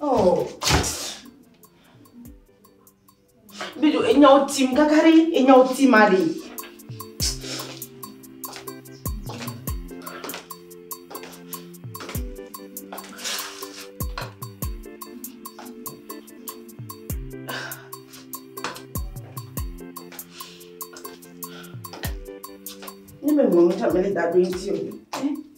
Oh. Bidu, enyawo tim kaka ɖi, enyawo tim aɖi. Ne me mɔ mi ta mele da ɖo iti o.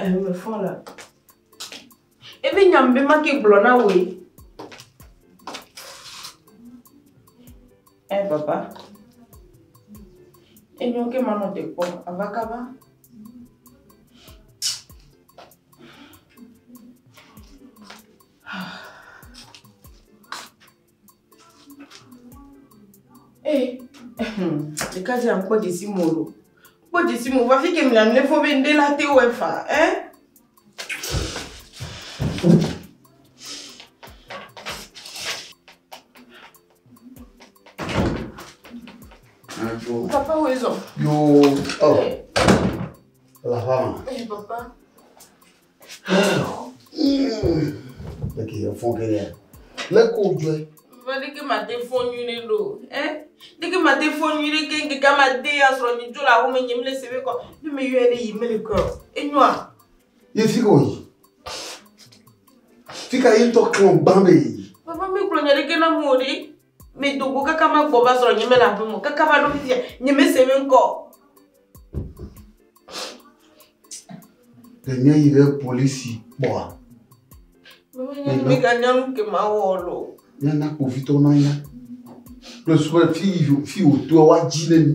Eheme fɔ la. Evi nyam be make gblɔ na wòe. Eh papa. Enyo ke manɔ te kpɔ ava kaba. Eh, le ka dzi ankpɔ dzesi mo lo kpɔ dzesi mo va fi ke mle amle fɔ be ŋɖe la te wɔ efa eh Papa wo ezɔ. Yo, oh, la fama. Eh, papa. Eke yɛ fɔn ke yɛ. Lé ko jɔɛ. Vɔ ɖe ke mate fɔn nyui ɖe ɖo. Ɛ? Ɖe ke mate fɔn nyui ɖe ke ŋke ka ma de ya srɔ nyi dzo la ho me nye mle se be kɔ. Ne me yɔɛ ɖe yi mele kɔ. Enyɔa. Ye fi ko yi. Fi ka yi tɔ klɔ gbã be yi. Papa mi kplɔ nya ɖe ke na mo ɖe. Medo go kaka magbɔ va srɔ̃ nyemele aƒeme o kaka va ɖo fifia nyemese eƒe ŋkɔ o. Ɖe míayi ɖe polisi kpɔa? Miganya nu ke mawɔ lo. Míana kpovitɔwo nanya. Kple susu be fi fi wòtoa woadzi ɖe mí.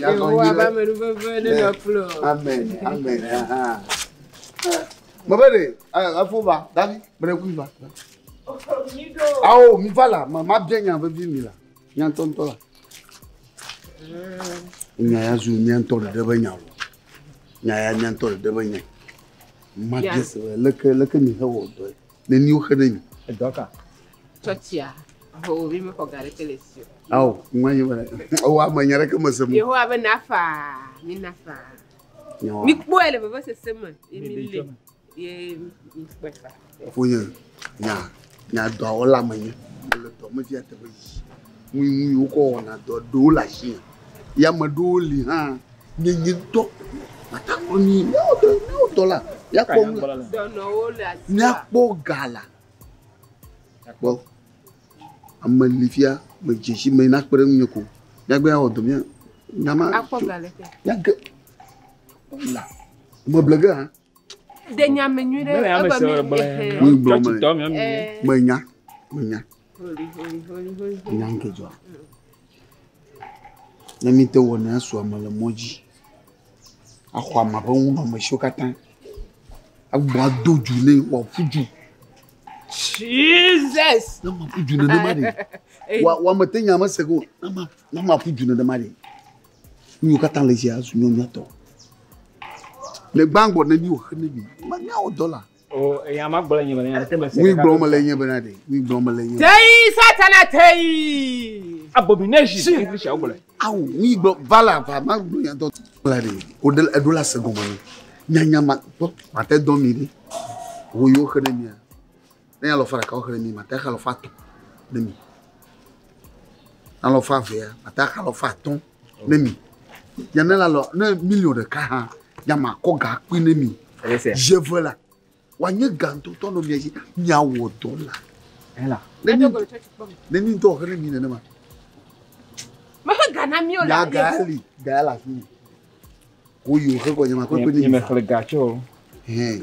Yehowa ƒe amenuveve nenɔ kple wò. Amen, amen. aha. Mebe ɖe, eh, efo va, Davi, mele kui va. Ao, mi va la, ma- mabia nya vevi mi la, nya ŋutɔ ŋutɔ la. Nya ya zu mia ŋutɔ ɖeɖe be nya o. Nya ya mia ŋutɔ ɖeɖe be nya. Mabia se be leke leke mi hewɔ dɔe. neni woxe ɖe mi. Edɔ ka? Tsɔtsia. Ho, mi mexɔ ga ɖeke le esi o. Ao, ŋua nye be, ewa ame nya ɖeke me se mu. Yehowa be na faa, mi na faa. Mi kpɔe le vevesese me, ye mi lé, ye mi kpɔe faa. Ƒonye, nya, nya dɔa wɔla me nye. Mele dɔ me via teƒe yi. Ŋui ŋui wokɔ wɔna dɔ ɖewo le ashi hã. Ye ame ɖewo li hã nye nye ŋutɔ mate ŋu anyi miawo dɔ miawo dɔla míakpɔ nu la. Dɔnɔwo le asi. Míakpɔ ga la. Kpɔ ame li fia medze si me nakpe ɖe ŋunye ko míagbe awɔ dɔ mía nya ma. Akpɔ ga le ke. Míage la meble ge hã. De nya me nyuie ɖe. Mele ame sɔ gblẽ. Ŋugblɔ me. Menya menya. Nya nke dzɔ. Ne mi te wɔna asu ame le mɔ dzi. Axɔ ame ƒe nunɔamesiwo katã. Agbɔ ado dzu nɛ wòaƒu dzu. Jesus. Ne maƒu dzu nenema ɖe. Wa wa mete nya mese ko. Ne ma ne maƒu dzu nenema ɖe. Nu yiwo katã le dzi azu nyɔnyɔtɔ. Le gbãgbɔ ne mi wòxe ne mi. Manya wò dɔla. Ŋui gblɔm mele nye bena ɖe. Ŋui gblɔm mele nye. Teyi satana teyi. Abomination. Si English awo gblɔ. Awo ŋui gblɔ vala va ma gblɔ nya dɔ. Kpla ɖe o de eɖo la se gɔme ne. Nyanya ma gbɔ mate dɔ mi ɖe. Wo yo xe ne mia. Ne ya lɔfa ɖeka wo xe ne mi mate xa lɔfa tɔ ne mi. Na lɔfa vea mate xa lɔfa tɔ. ne mi ya ne la lɔ ne miliɔn ɖeka hã ya ma kɔ ga kpui ne mi je ve la wa nye gantotɔ nɔ mia dzi mia wɔ dɔ la ela ne ni ne ni dɔ xɛ ne mi nenema me he ga na mi o la ga ali ga la fi ko yi o xɛ kɔ nye ma kɔ kpe ne mi me xle ga tsɔ hɛn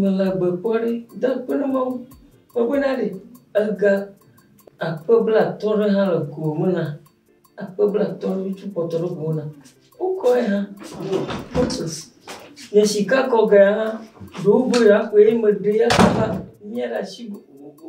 Mele agbe kpɔ ɖi de akpe ɖe Mawu me be na ɖe ega akpe blatɔ̃ ɖe hã le go me nam. Akpe blatɔ̃ ɖe tsɔ kpɔtɔ ɖe go nam. Wokɔ ye hã purpose. Nye shika kɔ ge hã ɖewo be yewoa kɔe ye meɖee ye kaka mia ɖe asi gogogo.